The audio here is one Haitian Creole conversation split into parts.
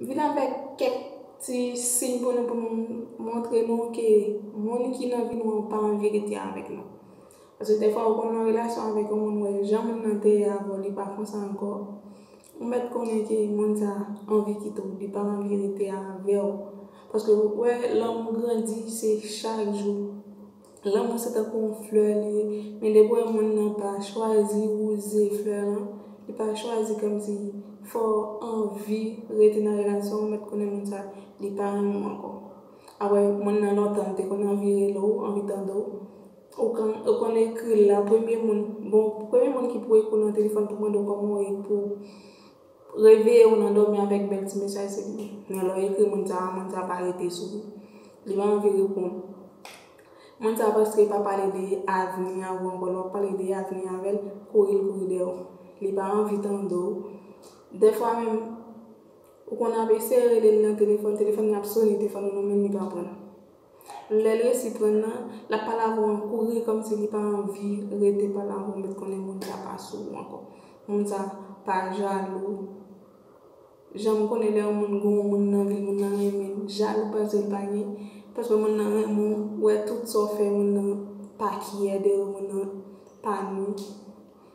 M vin avèk kèk ti siy pou nou pou nou montre nou ke moun ki nan vi nou an pa anverite avèk nou. Paske dèfwa ou konn nan relasyon avèk yon moun ou wè jan moun nan te ye avè w li pa konsa ankò, ou mèt konnen ke moun sa a anvi kite w, li pa anvi rete avè w. Paske ou wè lanmou grandi se chak jou. Lanmou se tankou yon flè li ye, men depi w wè moun nan pa chwazi wouze flè lan, li pa chwazi kòmsi fè w anvi rete nan relasyon an, ou mèt konnen moun sa li pa renmen w ankò. Apre moun nan lontan li te konn anvi rele w, anvi tande w, ou konn ou konn ekri l la, premye moun, bon premye moun ki pou ekri w nan telefòn pou mande w kòman w ye, pou Reveye ou nan dòmi avèk bèl ti mesaj se pou mwen lè w ekri moun sa a moun sa a pa rete sou ou li pa anvi reponn moun sa a paske pa pale de avni avè w ankò lè w ap pale de avni avè l kouri l kouri dèyè w li pa anvi tande w dèfwa menm ou konn ap eseye rele l nan telefòn telefòn nan ap sone telefòn nan nan men l li pa pran. Lèl resi prann nan, lap pale avè w an kouri kòmsi li pa anvi rete pale avè w met konnen moun sa pa sou ou ankò. Moun sa pa jalou. Janm konnen lè yon moun gen yon moun nan vil moun nan renmen l, jalou pase l pa gen. Paske moun nan renmen w, wè tout sa w fè moun nan pa kyè de ou, moun nan pa nou.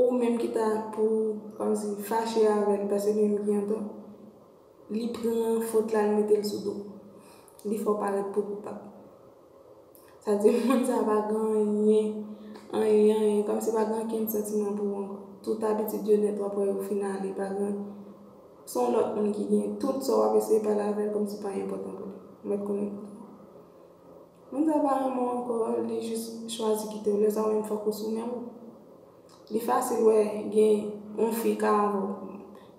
Ou menm ki ta pou kòmsi fache avè l pase li menm ki antan, li pran fot la l mete l sou do w. Li fè w parèt pou koupab. Sa vle di moun sa pa gen anyen, anyen, anyen, kòmsi pa gen ankenn santiman pou ou ankò. Tout abitid yo nèt w ap wè yo fin ale, pa gen, s on lòt moun ki gen tout sa w ap eseye pale avè l kòmsi pa enpòtan pou li. Ou mèt konnen. Moun sa pa renmen w ankò li jis chwazi kite w lè sa ou menm fòk ou sou men w li fasil wè gen yon fi ka avè w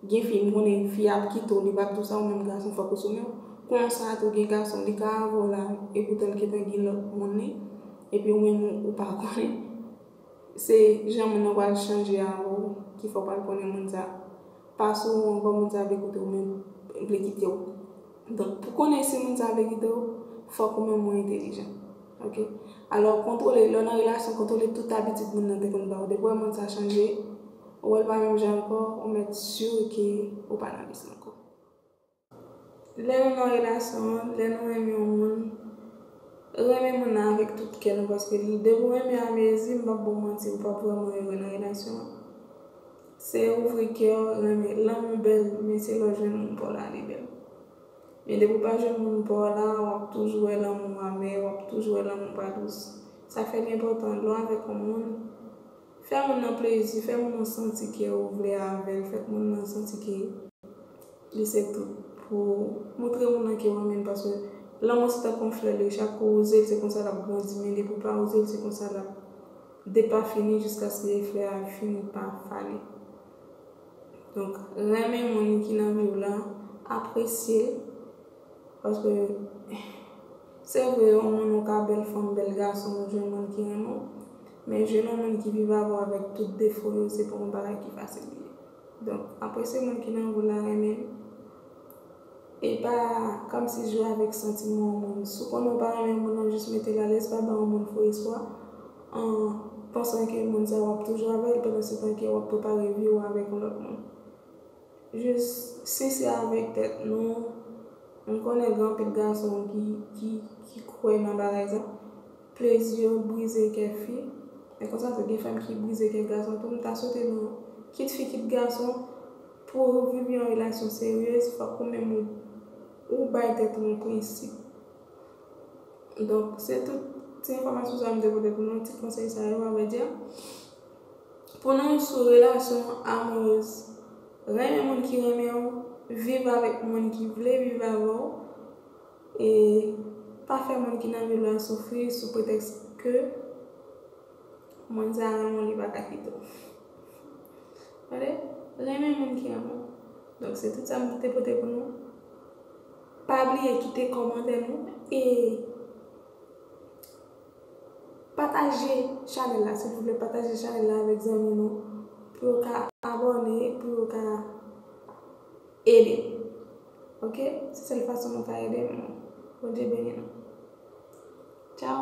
gen fi m konnen fi a ap kite w li pap di w sa ou menm gason fòk ou sou men w konsa tou gen gason li ka avè w la epoutan l gentan gen lòt moun li epi ou menm ou pa konnen se jan moun nan pral chanje avè w ki fè w pral konnen moun sa pa sou w ankò moun sa vle koute w menm vle kite w. Donk pou konnen si moun sa vle kite w, fòk ou menm ou entelijan. Ok. Alò kontwole, lè w nan relasyon, kontwole tout abitid moun nan te konn ba w. Depi w wè moun sa chanje, ou wè l pa menm jan ankò, ou mèt sur ke ou pa nan vis l ankò. Lè nou nan relasyon, lè nou renmen yon moun, renmen moun nan avèk tout kè nou paske depi w renmen a mezi, m pap ba w manti, ou pap vrèman ere nan relasyon an. Se ouvri kew renmen lanmou bel men se lèw jwenn moun paw la li bel men depi ou pa jwenn moun paw la wap toujou wè lanmou amè wap toujou wè lanmou pa dous sa fè li enpòtan lèw avèk yon moun fè moun nan plezi fè moun nan santi ke ou vle avèl fè moun nan santi ke li se tout pou ou moutre moun nan kew renmenl paske lanmou se tankou yon flè li chak ou wouzel se konsa lap grandi men depi ou pa wouzel se konsa lap. Depafini jiskaske efè a fini pa fane. Donk, renmen moun ki nan vi w lan, apresye l, paske se vre yon moun ou ka bèl fanm, bèl gason ou jwenn moun ki renmen w, men jwenn yon moun ki viv avè w avèk tout defo yo se pa yon bagay ki fasil li ye. Donk, apresye moun ki nan vi w la, renmen l. Epa kamsi jwe avek santiman yon moun si w konnen w pa renmen yon moun nan jis metel alèz pa ba yon moun fo espwa an pansan ke moun sa wap toujou avèl pandan se tan ke wap prepare vi w avèk yon lòt moun jis sensè avèk tèt nou m konnen gen anpil gason ki kwè nan bagay sa plezi yo brize kè fi men konsa tou gen fanm ki brize kè gason tou m ta swete nou kit fi kit gason. Pou ou viv yon relasyon seryez fòk ou menm ou bay tèt ou yon prensip. Donk se tout ti enfòmasyon sa yo m te pote pou nou, ti konsèy sa yo avèdi. Pou nou sou relasyon amourez, renmen moun ki renmen ou, viv avèk moun ki vle viv avè ou e pa fè moun ki nan vil la soufri sou pretèks ke. Moun sa renmen w li paka kite w. Tande, renmen moun ki renmen w. Donk se tout sa m te pote pou nou. Pa bliye kite kòmantè nou e pataje chanèl la silvouplè, pataje chanèl la avèk zanmi nou pou yo ka abòne, pou yo ka ede m. Ok, se sèl fason nou ka ede m. Bondye beni nou. Tchaw!